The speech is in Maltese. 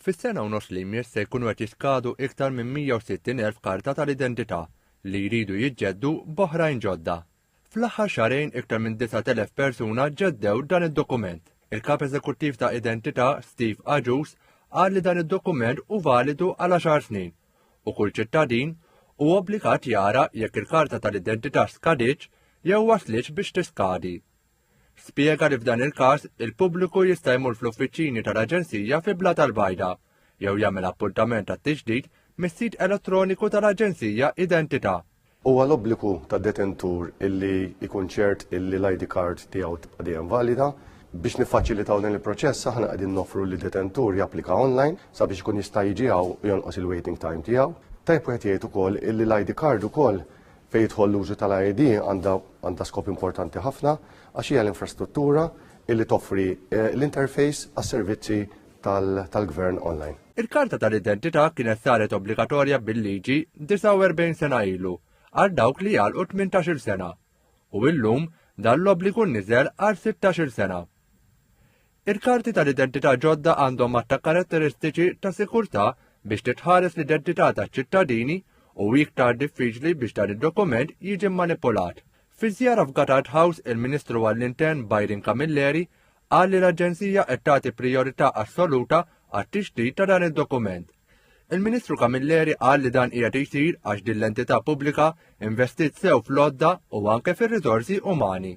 Fis-sena u nofs li jmiss se jkunu qed jiskadu iktar minn 160,000 karta tal-identità li jridu jiġġeddu b'oħrajn ġodda. Fl-aħħar xahrejn iktar minn 9,000 persuna ġeddew dan id-dokument. Il-Kap Eżekuttiv ta' Identità, Steve Agius, qal li dan id-dokument hu validu għal għaxar snin u kull ċittadin hu obbligat jara jekk il-karta tal-identità skadietx jew waslitx biex tiskadi. Spjega li f'dan il-każ il-pubbliku jista' jmur fl-uffiċini tal-Aġenzija fi Blat al-Bajda jew jagħmel appuntament għat-tiġdid mis-sit elettroniku tal-Aġenzija Identità. Huwa l-obbligu tad-detentur illi jkun ċert illi l-ID card tiegħu tibqa' dejjem valida. Biex niffaċilitaw dan il-proċess aħna qegħdin noffru li detentur japplika online sabiex ikun jista' jiġi hawn u jonqos il-waiting time tiegħu. Tajjeb wieħed jgħid ukoll illi l-ID card ukoll Fejn jidħol l-użu tal-AED għandha skop importanti ħafna għax hija l-infrastruttura illi toffri eh, l-interface għas-servizzi tal-gvern online. Il-karta tal-identità kienet saret obbligatorja bil-liġi 49 sena ilu għal dawk li għal 18 sena u illum dan l-obbligu niżel għal 16 sena. Il-karti tal-identità ġodda għandhom għadd ta' karatteristiċi ta' sikurtà biex titħares l-identità taċ-ċittadini u hi iktar diffiċli biex dan id-dokument jiġi mmanipulat. Fi żjara f'Gatard House, il-Ministru għall-Intern Byron Camilleri qal li l-Aġenzija qed tagħti prijorità assoluta għat-tixrid ta' dan id-dokument. Il-Ministru Camilleri qal li dan qiegħed jsir għax din l-entità pubblika investit sew fl-għodda u anke fir-riżorsi umani.